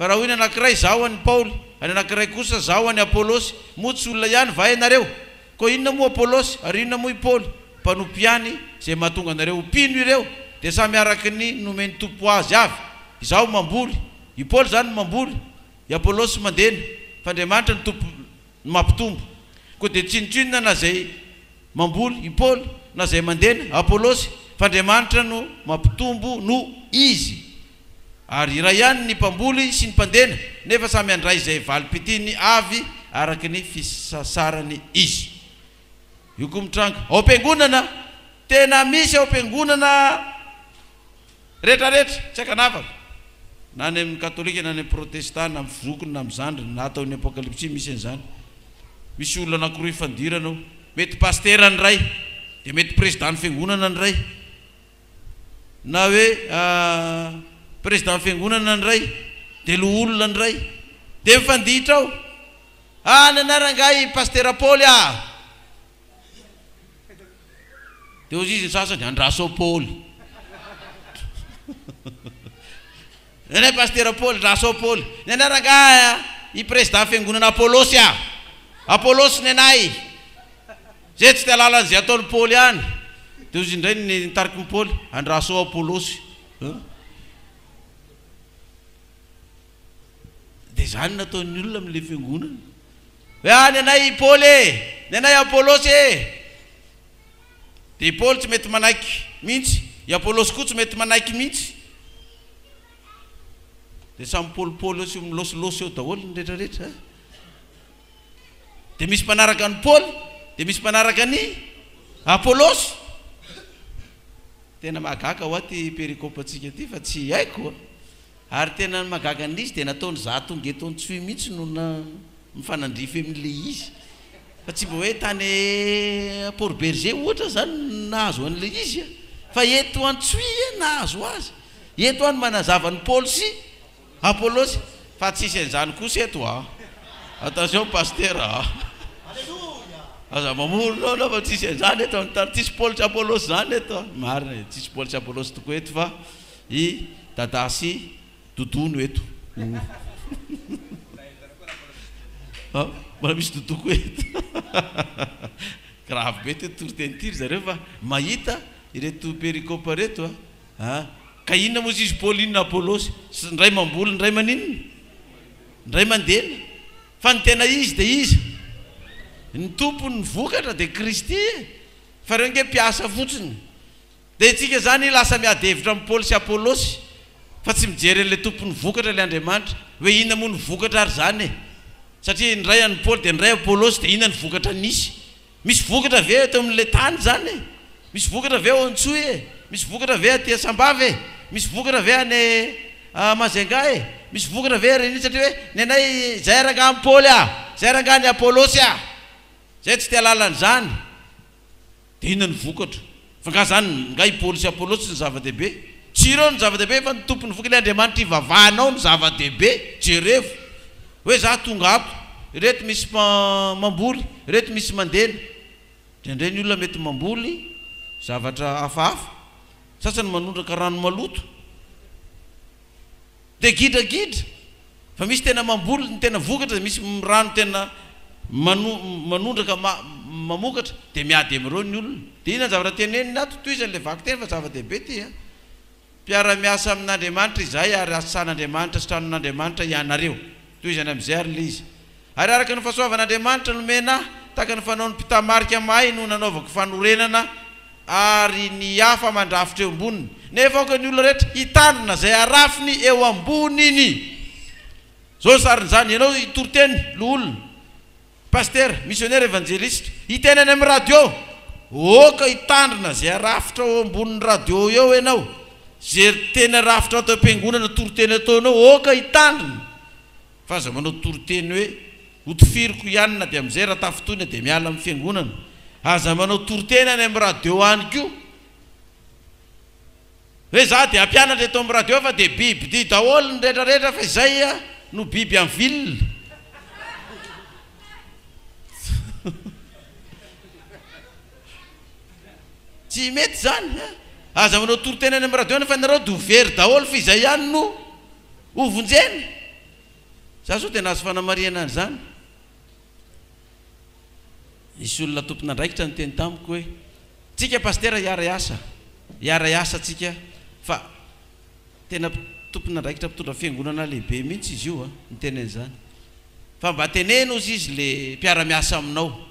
Fa raha hoy ny anankiray, Izaho an'i Paoly, ary ny anankiray kosa, Izaho an'i Apolosy, moa tsy olona ihany va ianareo? Koa inona moa Apolosy, ary inona moa i Paoly? Mpanompo ihany, izay mahatonga anareo ho mpino ireo, dia samy araka ny nomen'ny Tompo azy avy. Izaho mamboly, i Paoly izany no mamboly, i Apolosy mandena, fa Andriamanitra ny Tompo no mampitombo. Koa dia tsinontsinona na izay mamboly, i Paoly, na izay mandena, Apolosy, fa Andriamanitra no mampitombo noho izy. Ary iray ihany ny mpamboly sy ny mpandena, nefa samy handray izay valim-pitiny avy araka ny fisasarany izy. Io koa mitranga ao am-piangonana. Tena misy ao am-piangonana rehetrarehetra, tsy an-kanavaka, na any amin'ny Katolika na any amin'ny Protestanta, na amin'ny zokiny na amin'ny zandriny, na atao ny Apokalypsy, misy an'izany. Misy olona anankiroa ifandirana ao. Mety pasitera ny iray, dia mety prezidàn'ny fiangonana ny iray. na hoe président fiangonana ndray de loholona ndray de mifanditra ao ah ny anarany angaha i pastera Paoly ah de hozizy ny sasany andraso ao Paoly Ny anay Pasitera Paoly Ndrasoa Paoly ny anay Rangahy a! I Prezidà Fiangonana Apolosy a! Apolosy ny anay! Zay tsy te halala an'izay ataon'i Paoly any de hozy indray ny nitarikin'i Paoly, Andrasoa Apolosy a! De zany nataon'ny olona amin'ilay Fiangonana hoe a! ny anay Paoly e! ny anay Apolosy e! Dia i Paoly tsy mety manaiky mihitsy, i Apolosy koa tsy mety manaiky mihitsy. Dia samy mipaolipaoly eo sy milôsilôsy eo daholo ny rehetrarehetra. Dia misy mpanaraka an'i Paoly, dia misy mpanaraka an'i Apolosy. Tena mahagaga hoa ity perikôpantsika ity fa tsy haiko. Ary tena ny mahagaga an'izy dia nataony za tonga eto Antsohihy mihitsy no mifanandrify amin'ilay izy fa tsy mba hoe tany Port Bergé ohatra aho zany no nahazo an'ilay izy fa eto Antsohihy aho nahazo azy, eto aho no manazava an'i Paolo sy Apolosy fa tsisy an'izany kosa eto a! Attention Pasteur a! Aza mamory noana fa tsisy an'izany eto amin'ny tany, tsisy Paolo sy Apolosy zany eto a! Marina e, tsisy Paolo sy Apolosy tokoa eto fa I Dadah sy Doudou no eto oh. Mbola misy Doudou koa eto Grave be ity toriteny ity ry zareo fa mahita ireto pericope reto a a! Ka inona moa izy Paulina Apolosy? Indray mamboly indray maninona? Indray mandena? Fa ny tena izy dia iza? Ny tompon' ny vokatra dia Kristy e! Fa ireo ange mpiasa fotsiny. Dia itsika izany lasa miady hevitra amin'i Paoly sy Apolosy fa tsy mijery an'ilay tompon'ny vokatra ilay Andriamanitra hoe inona moa ny vokatra ary izany e! satria indray an'i Paoly dia indray Apolosy dia inona ny vokatra nisy? misy vokatra ve eto amin'ilay tany izany e? misy vokatra ve ao Antsohihy e? misy vokatra ve aty Sambava e? misy vokatra ve any Majunga e? misy vokatra ve ery anio satria hoe ny anay izay rangaha an'i Paoly a! izay rangaha an'i Apolosy a! izahay tsy te-hahalala an'izany. Dia inona ny vokatra? Fa nga zany nga i Paoly sy Apollos tsy ny zava-dehibe? Tsy ireo no zava-dehibe fa ny Tompon'ny voka ilay Andriamanitra ivavahanao no zava-dehibe, jerevo hoe za tonga ato, ireto misy mamboly, ireto misy mandena. Indraindray ny olona mety mamboly zavatra hafahafa, sasany manondraka rano maloto. Dia gidragidra fa misy tena mamboly ny tena vokatra dia misy mirano tena manondraka mamokatra dia miady amin'ireo ny olona. Dia inona ny zavatra teneniny ato? Tohizany ilay vakiteny fa zava-dehibe ity an! Mpiara-miasa amin'Andriamanitra izahay ary asan'Andriamanitra sy tranon'Andriamanitra ianareo. Tohizany amin'izay ary ilay izy. Ary araka ny fahasoavan'Andriamanitra nomena ahy, tahaka ny fanaon'ny mpitamarika mahay no nanaovako fanorenana, ary ny hafa mandrafitra eo amboniny. Nefa aoka ny olona rehetra hitandrina izay harafiny eo amboniny. Izao ny sarin'izany, ianao toriteny, loholona, pasitera, misionera, evanjelisitra, hiteny any amin'ny radio, aoka hitandrina izay harafitra eo ambonin'ny radio eo ianao, izay teny harafitra ato am-piangonana, toriteny ataonao, aoka hitandrina. Fa aza manao toriteny hoe hotifiriko ihany na dia amin'izay Ratafotoina dia miala amin'ny fiangonana. Aza manao toriteny any amin'ny radio any koa hoe za dia hampianatra eto amin'ny radio fa dia bibidia daholo ny retraretra fa izay no biby en ville. Tsy mety izany an! Aza manao toriteny any amin'ny radio any fa nareo dia ho very daholo fa izay ihany no Ho vonjena! Za zao dia nahazo fanamarihana an'izany. Nisy olona tompon'andraikitra niteny tamiko hoe, Tsika Pasitera hiara-hiasa, hiara-hiasa tsika fa tena tompon'andraikitra mpitondra fiangonana lehibe mihitsy izy io a! niteny an'izany. Fa mba teneno hozy izy le mpiara-miasa aminao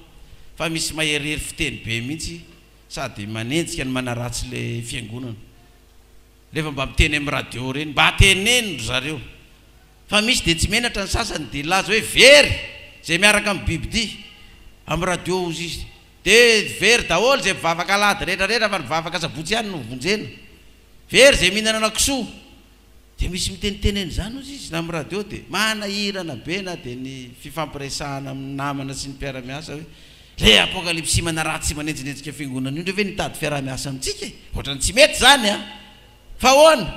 fa misy maherihery fiteny be mihitsy sady manenjika no manaratsy le fiangonana. Rehefa mba miteny amin'ny radio ireny mba teneno ry zareo fa misy dia tsy menatra ny sasany dia hilaza hoe very izay miaraka amin'ny bibidia amin'ny radio hozy izy dia very daholo izay mpivavaka alahady rehetra rehetra fa ny vavaka sabotsy ihany no vonjena very izay mihinanana kisoa dia misy miteniteny an'izany hozy izy na amin'ny radio dia manahirana be na dia ny fifampiresahana amin'ny namana sy ny mpiara-miasa hoe Ve apokalipsy manaratsy manenjinenjika fiangonana io ndray ve no hitady fiaraha-miasa amintsika e? Ohatrany tsy mety izany an! Fa ahoana?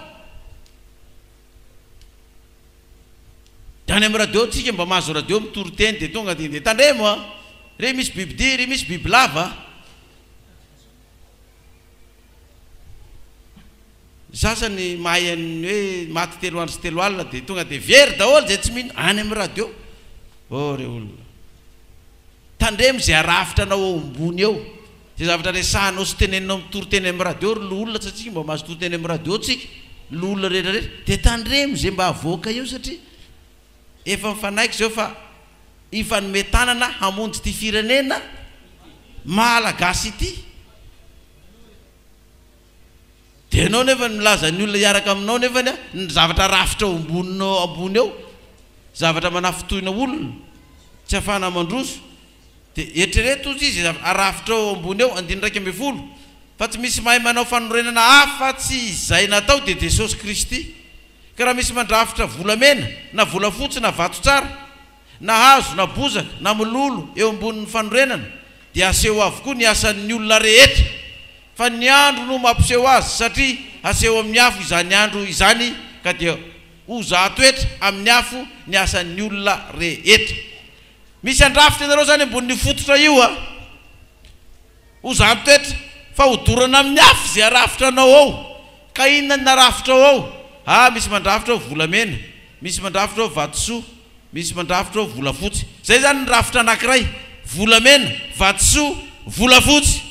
Dia any amin'ny radio tsika mba mahazo radio mitory teny dia tonga dia ndeha tandremo an! Re misy bibidia, re misy bibilava. Za azany mahay an'ny hoe maty telo andro sy telo alina dia tonga dia very daholo izay tsy mino any amin'ny radio. Oh re olona. Tandremo izay arafitra anao ao ambony ao. Izay zavatra resahanao sy teneninao amin'ny toriteny amin'ny radio ry loholona satria tsy mba mahazo toriteny amin'ny radio tsika. Ny loholona rehetra rehetra. Dia tandremo izay mba avoaka eo satria. Efa mifanaiky izao fa hifanome tanana hamonjy ity firenena Malagasy ity. Dia ianao nefany milaza ny olona hiaraka aminao nefany ny zavatra rafitra ao amboninao ambony ao, zavatra manafintohina olona, tsy afahana mandroso, Dia eritrereto ozy izy arafitrao eo ambony eo andininy iraika ambin'ny folo fa tsy misy mahay manao fanorenana afa tsy izay natao dia Jesosy Kristy ka raha misy mandrafitra volamena na volafotsy na vato tsara na hazo na bozaka na mololo eo ambonin'ny fanorenana dia aseho avokoa ny asan'ny olona rehetra fa ny andro no mampiseho azy satria haseho amin'ny afo izany andro izany ka dia hozahatoetra amin'ny afo ny asan'ny olona rehetra Misy handrafitra ianareo izany ambonin'io fototra io a! Ho zan-toetra fa hodorana amin'ny afo izay harafitra anao ao. Ka inona ny narafitrao ao? Ah, misy mandrafitra ao volamena, misy mandrafitra ao vatosoa, misy mandrafitra ao volafotsy. Izay izany ny rafitra anankiray, volamena, vatosoa, volafotsy.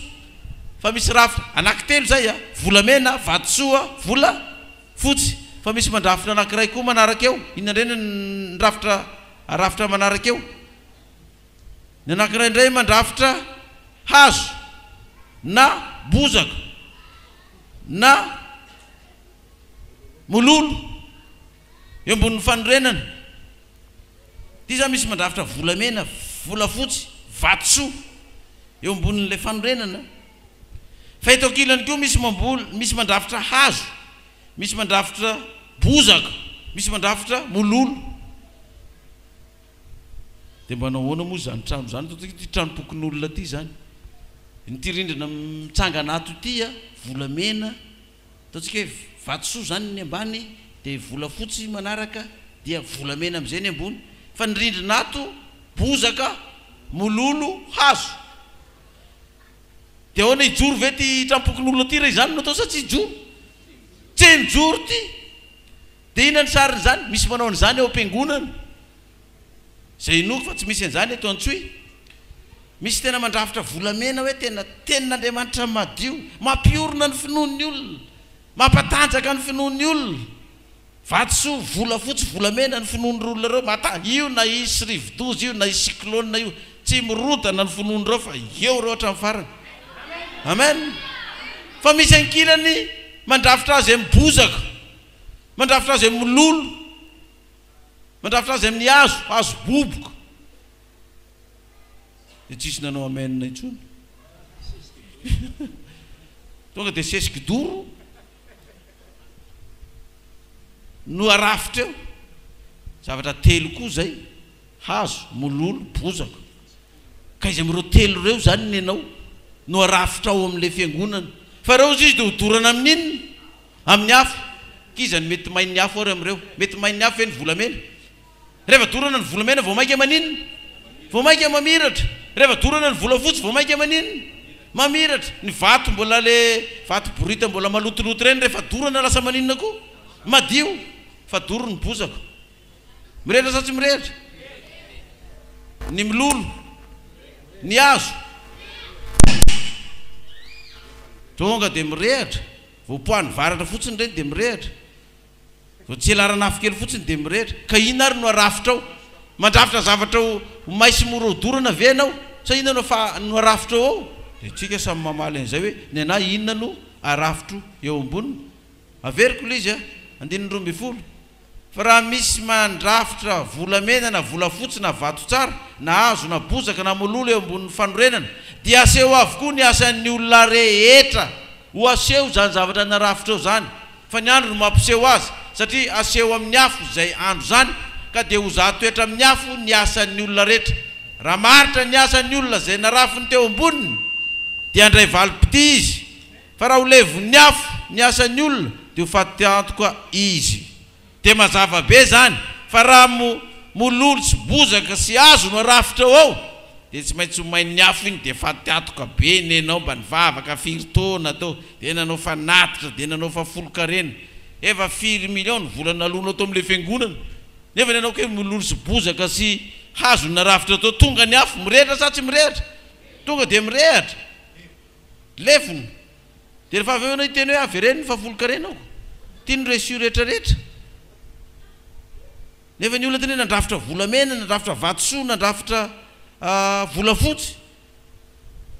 Fa misy rafitra anankitelo izay a! Volamena, vatosoa, volafotsy. Fa misy mandrafitra anankiray koa manaraka eo. Inona indray no ny rafitra? Arafitra manaraka eo, ny anankiray indray mandrafitra hazo na bozaka na mololo eo ambonin'ny fanorenana. Ity izany misy mandrafitra volamena, volafotsy, vatosoa eo ambonin'ilay fanorenana. Fa eto ankilany koa misy mamboly, misy mandrafitra hazo Misy mandrafitra bozaka, misy mandrafitra mololo. Dia mbanao ahoana moa izany trano izany? Toa ity tranom-pokonolona ity izany. Ity rindrina mitsangana ato ity volamena, ataontsika hoe vatosoa izany ny ambany, dia volafotsy manaraka, dia volamena amin'izay ny ambony. Fa ny rindrina ato bozaka, mololo, hazo. Dia ahoana hijoro ve ity trampokon'olona ity raha izany no atao sa tsy hijoro? Tsy mijoro ity! Dia inona ny sarin'izany? Misy manao an'izany ao am-piangonana. Izay inoako fa tsy misy an'izany eto Antsohihy. Misy tena mandrafitra volamena hoe tena Tenin'Andriamanitra madio. Mampiorina ny finoan'ny olona. Mampatanjaka ny finoan'ny olona. Vatosoa, volafotsy, volamena ny finoan'ireo olona ireo mata. Io na hisy rivodoza io, na hisy cyclone io, tsy mirodana ny finoan'ireo fa eo ireo hatramin'ny farany. Amen! Fa misy ankilany mandrafitra azy amin'ny bozaka, mandrafitra azy amin'ny mololo, mandrafitra azy amin'ny hazo, hazo boboka. Dia tsisy nanao amen intsony. Tonga dia sesy kidoro. no arafitra eo, zavatra telo koa izay, hazo, mololo, bozaka, ka izy amin'ireo telo ireo izany ny anao no arafitra ao amin'ilay fiangonana, fa ireo hozy izy dia hodorana amin'ny inona? Amin'ny afo, k'iza no mety main'ny afo ary amin'ireo? Mety main'ny afo ve ny volamena? Rehefa dorana ny volamena vao mainka maninona? Vao mainka mamiratra. Rehefa dorana ny volafotsy vao mainka maninona? Mamiratra. Ny vato mbola le vato borita mbola malotoloto ireny rehefa dorana lasa maninona koa? Madio. Fa doro ny bozaka. Mirehitra sa tsy mirehitra? Ny milolo. Ny hazo. Tonga dia mirehitra. Voapoahan'ny varatra fotsiny ireny dia mirehitra. Vao tsy ela aran'afo kely fotsiny dia mirehitra. Ka inona ary no arafitrao? Mandrafitra zavatra ho may sy mora hodorana ve ianao? Sa inona no fa no arafitrao ao? Dia isika samy mamaly an'izay hoe, Ny anà inona no arafitro eo amboniny? Averiko ilay izy a! Andininy roa ambin'ny folo. Fa raha misy mandrafitra volamena na volafotsy na vato tsara na hazo na bozaka na mololo eo ambonin'ny fanorenana, dia aseho avokoa ny asan'ny olona rehetra. Ho aseho izany zavatra narafitra eo izany. Fa ny andro no mampiseho azy, satria haseho amin'ny afo izay andro izany, ka dia ho zahatoetra amin'ny afo ny asan'ny olona rehetra. Raha maharitra ny asan'ny olona izay narafiny teo amboniny, dia handray valim-pitia izy, fa raha ho levon'ny afo ny asan'ny olona, dia ho faty antoka izy. Dia mazava be izany fa raha mololo sy bozaka sy hazo no arafitra ao ao dia tsy maintsy ho main'ny afo iny dia fa teatoka be nenao mba nivavaka firy taona teo dia nanao fa natitra dia nanao fa folon-karena efa firy millions ny vola naloanao tao amin'ilay fiangonana nefa ny anao kay mololo sy bozaka sy hazo no narafitra tao tonga ny afo mirehitra sa tsy mirehitra? tonga dia mirehitra lefona Dia rehefa avy eo ianao hiteny hoe avereno ny fahafolonkarenako, tiany ny reçu rehetra rehetra, nefa ny olona tena hoe nandrafitra volamena, nandrafitra vatosoa, nandrafitra volafotsy,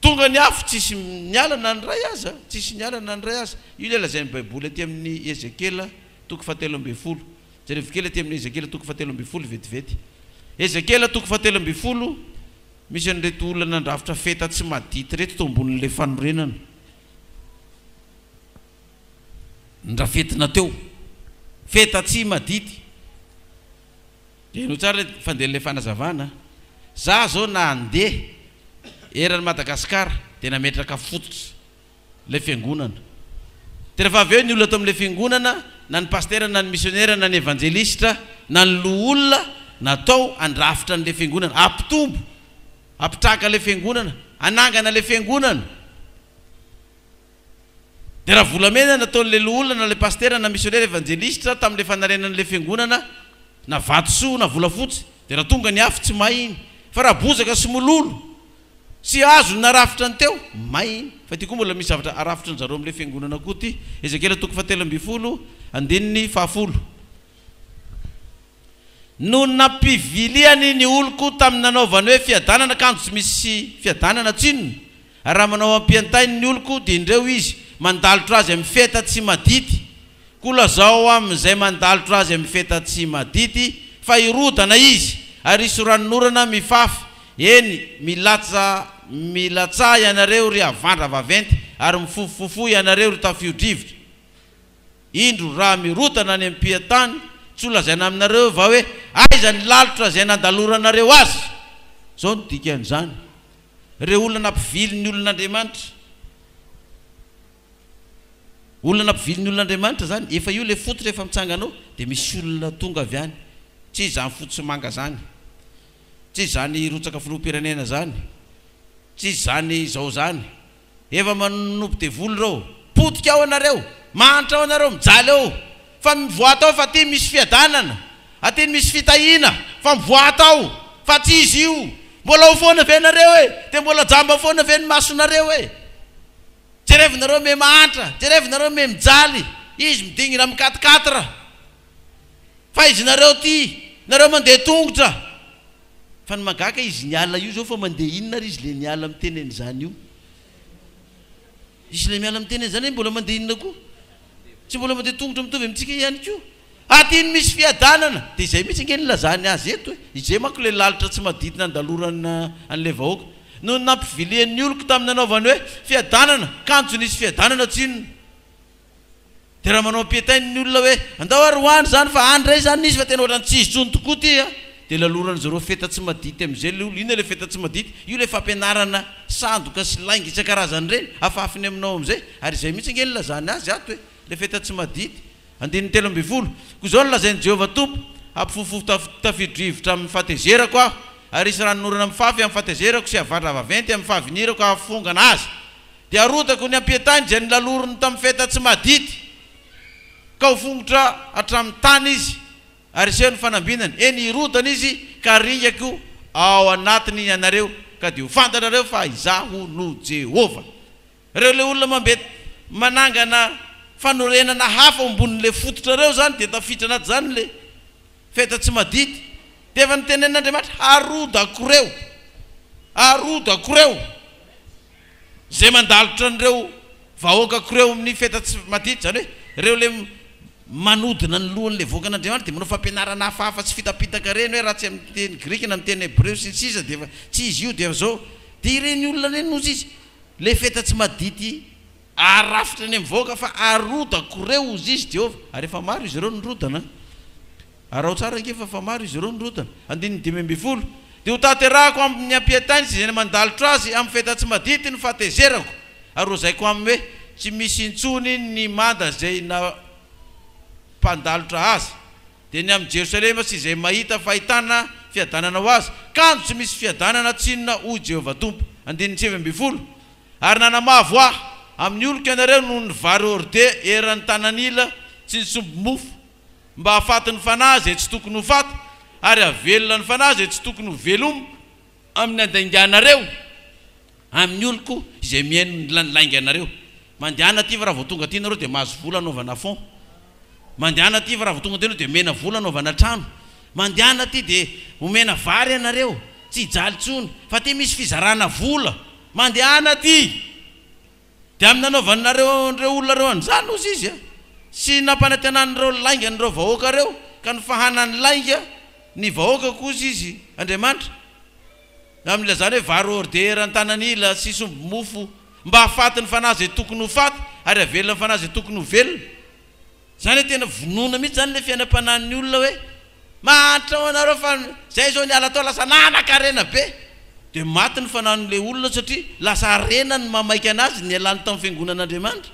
tonga ny afo tsisy niala na ny iray aza, tsisy niala na ny iray aza, io ilay lazain'ny baiboly aty amin'ny Ezekiela toko fahatelo ambin'ny folo, jerevo kely aty amin'ny Ezekiela toko fahatelo ambin'ny folo vetivety, Ezekiela toko fahatelo ambin'ny folo. Misy an'ireto olona nandrafitra feta tsy madity ireto teo ambonin'ilay fanorenana ndrafetina teo. Feta tsy madity. Heno tsara ny fandehan'ilay fanazavana. Za zao na handeha eran'i Madagasikara dia nametraka fototra. ilay fiangonana. Dia rehefa avy eo ny olona tao amin'ilay fiangonana, na ny pasitera, na ny misionera, na ny evanjelistra, na ny loholona, natao handrafitra an'ilay fiangonana, hampitombo, hampitraka ilay fiangonana, hanangana ilay fiangonana. Dia raha volamena no nataon'ilay loholona, na ilay pasitera, na misionera, evanjelistra, tamin'ilay fanarenana ilay fiangonana, na vatosoa, na volafotsy, dia raha tonga ny afo, tsy may iny. Fa raha bozaka sy mololo, Tsy azony narafitra ny teo, may iny. Fa ity koa mbola misy zavatra arafitry ny zareo amin'ilay fiangonana koa ity. Ezekiela toko fahatelo ambin'ny folo, andininy fahafolo. No nampiviliany ny oloko tamin'ny nanaovany hoe fiadanana kanjo tsy misy fiadanana tsinona, ary raha manao ampiantainy ny oloko dia indreo izy mandalotra azy amin'ny feta tsy madity Koa lazao amin' izay mandalotra azy amin' ny feta tsy madity fa hirodana izy, ary hisy ranonorana mifafy, eny, milatsa, milatsaha ianareo, ry havandra vaventy, ary mifofofofo ianareo, ry tafio-drivotra. Indro, raha mirodana any am-pian-tany, tsy ho lazaina aminareo va hoe, Aiza ny lalitra izay nandaloranareo azy? Izao no dikan' izany, Ireo olona nampivily ny olon' Andriamanitra. Olona nampivilin'ny olona Andriamanitra zany, efa io le fototra efa mitsangana ao de misy olona tonga avy any, tsy izany fotsy sy manga zany, tsy izany rotsaka filoham-pirenena zany, tsy izany izao zany, efa manonop devoly reo, potika ao anareo, mahantra ao anareo, mijaly ao, fa mivoahat ao fa aty misy fiadanana, aty misy fitahiana, fa mivoahat ao, fa tsy izy io, mbola ao foana ve nareo e, de mbola jamba foana ve ny masonareo e. Jerevo nareo me mahantra jerevo nareo me mijaly izy midingina am quatre quatre fa izy nareo ty nareo mande tongotra fa ny magaka izy niala io zao fa mande inona ary izy le niala miteny any zany io izy le miala miteny any zany mbola mande inona koa tsy mbola mande tongotra mitovy amitsika ihany koa Adino misy fiadanana, dia izay mihitsy ange nilazany azy eto e! Izay manko ilay lalitra tsy madity nandalorana an'ilay vahoaka. Nony nampivilian'ny oloko tamin'ny nanaovany hoe fiadanana, kanjo nisy fiadanana tsinona. Dia raha manao ampiantainy ny olona hoe andao ary ho any izany fa any indray izany nisy fa tena ohatran'ny tsy hisy intsony tokoa ity a! Dia laloran'izy ireo feta tsy madity amin'izay ilay olona. Inona ilay feta tsy madity? Io ilay fampianarana sandoka sy lainga isan-karazany ireny, afafiny aminao amin'izay. Ary izay mihitsy ange nilazany azy ato e! Ilay feta tsy madity. Andininy telo ambin'ny folo, Koa izao no lazain'i Jehovah Tompo, Hampifofofo tafio-drivotra amin'ny fahatezerako aho, ary hisy ranonorana mifafy amin'ny fahatezerako sy havandra vaventy amin'ny fahavinirako hahafongana azy. Dia harotako ny ampietahiny izay nolaloriny tamin'ny feta tsy madity, ka ho fongotra hatramin'ny tany izy, ary hiseho ny fanambinany, eny, hirodana izy, ka haringako ao anatiny ianareo, ka dia ho fantatrareo fa Izaho no Jehovah. Reo le olona mambe manangana fanorenana hafa ao ambonin le fototra reo zany de tafiditra anaty zany le feta tsy madity de efa notenenin Andriamanitra harodako reo harodako reo ze mandalotra an reo vahoakako reo amin ny feta tsy madity zany hoe reo le manodina ny lohan le vahoakan Andriamanitra de manao fampianarana hafahafa tsy fitapitaka reny hoe raha tsy amin ny teny grika na amin ny teny hebreo sy ny sisa de efa tsy izy io de efa zao de ireny olona reny no tsy izy Lefeta tsy madity aharafitra eny mivoaka fa aroda koreo ozy izy Jehovah ary efa maro izy ireo nirodana araho tsara ange fa efa maro izy ireo nirodana andininy dimy ambin'ny folo Dia ho tanterahako amin' ny ampiantainy sy izay namandalitra azy amin' ny feta tsy madity ny fahatezerako ary hohazaiko aminy hoe tsy misy intsony ny manda izay nampandalotra azy Dia ny amin'i Jerosalema sy izay mahita fahitana fiadanana ho azy, kanjo tsy misy fiadanana tsy inona, hoy Jehovah Tompo. Andininy sivy ambin'ny folo. Ary nanamavo Aho. Amin'ny oloko ianareo noho ny vary horde eran'ny tanan'ila tsy nisomby mofo, mba hahafaty ny fanahy izay tsy tokony ho faty, ary hahavelona ny fanahy izay tsy tokony ho veloma, amin'ny handainganareo, Amin'ny oloko izay mihaino ny lany lainganareo. Mandehana aty fa raha vao tonga aty nareo dia mahazo vola anaovana fonds. Mandehana aty fa raha vao tonga aty nareo dia omena vola anaovana trano. Mandehana aty dia omena vary anareo. Tsy hijaly intsony. Fa aty misy fizarana vola. Mandehana aty. Dia amin'ny nanaovanareo an'ireo olona ireo an'izany ozy izy sy nampanantenan'ireo lainga an'ireo vahoaka ireo ka nifahanan'ny lainga ny vahoaka koa ozy izy Andriamanitra. Na amin'ny ilazana hoe vary hors d'heure an-tanan'ila sy somby mofo mba hahafaty ny fanahy izay tokony ho faty ary havelona ny fanahy izay tokony ho velona. Izany hoe tena vonoina mihitsy izany ilay fiainam-panahin'ny olona hoe mahantra ho anareo fa izay izao ny ala tao lasa nanan-karena be. Dia maty ny fanahin'ilay olona satria lasa harena ny mamaika anazy nialany tamin'ny fiangonan'Andriamanitra.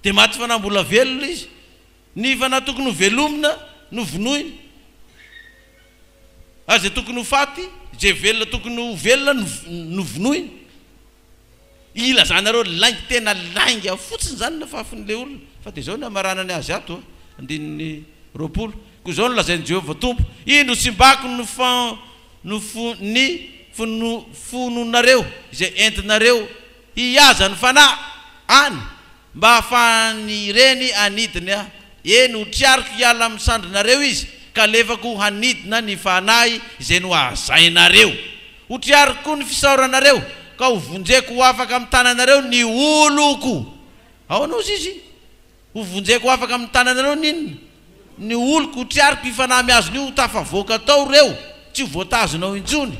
Dia maty fanahy mbola velona izy. Ny fanahy tokony ho velomina no vonoina. ary izay tokony ho faty, izay velona tokony ho velona no no vonoina. Ilazanareo lainga tena lainga fotsiny izany ny afafon'ilay olona. Fa dia izao no hamaranany azy ato a, andininy roapolo, Koa izao no lazain'i Jehovah Tompo, Indro tsimbako ny fa ny fo ny fono fononareo izay entinareo Hihaza ny fanahy any mba hahafahan'ny reny hanidina, eny, ho triariko hiala amin'ny sandrinareo izy, ka alefako hanidina ny fanahy izay nohazainareo. Ho triariko koa ny fisaoranareo, ka hovonjeko ho afaka amin'ny tananareo ny oloko. Ahoana hozy izy? Hovonjeko ho afaka amin'ny tananareo ny inona? Ny oloko. Ho triariko io fanahy miazona io ho tafavoaka tao ireo, tsy ho voatazona ao intsony.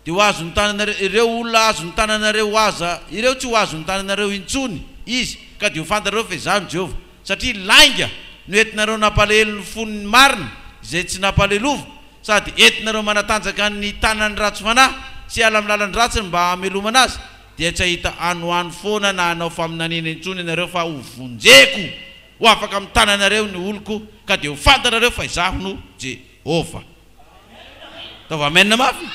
Dia ho azon'ny tananareo, ireo olona azon'ny tananareo ho aza ireo tsy ho azon'ny tananareo intsony izy, ka dia ho fantatrareo fa izaho no Jehovah. Satria lainga no entinareo nampalahelo ny fon'ny marina izay tsy nampaleloviko, sady entinareo manatanjaka ny tanan'ny ratsy fanahy sy hiala amin'ny lalan-dratsiny mba hamelomana azy, dia tsy hahita hanohano foana na hanao faminaniana intsony ianareo, fa hovonjeko ho afaka amin'ny tananareo ny oloko, ka dia ho fantatrareo fa izaho no Jehovah. Ataovy amen mafy.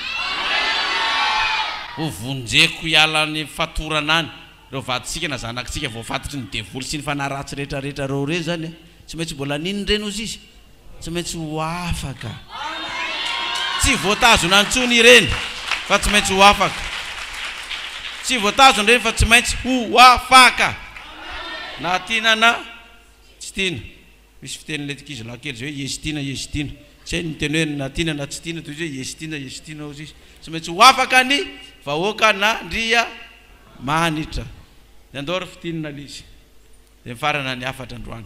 Ho vonjeko hiala any fatorana any reo vadintsika na zanakitsika voafatotry ny devoly sy ny fanahy ratsy rehetra rehetra reo re zany a! Tsy maintsy mbola nino re no sisa? Tsy maintsy ho afaka. Tsy voatazona intsony ireny fa tsy maintsy ho afaka. Tsy voatazona ireny fa tsy maintsy ho afaka. Na tiana na tsy tiana. Misy fiteny ilay ankizilahy kely izay hoe Iesitina, Iesitina. Tsy hay ny teny hoe na tiana na tsy tiana, toy izy hoe Iesitina, Iesitina hozy izy. Tsy maintsy ho afaka ny vahoaka n'Andriamanitra. Ny andao ary fitinina lzy. Dia mifarana ny hafatra androany.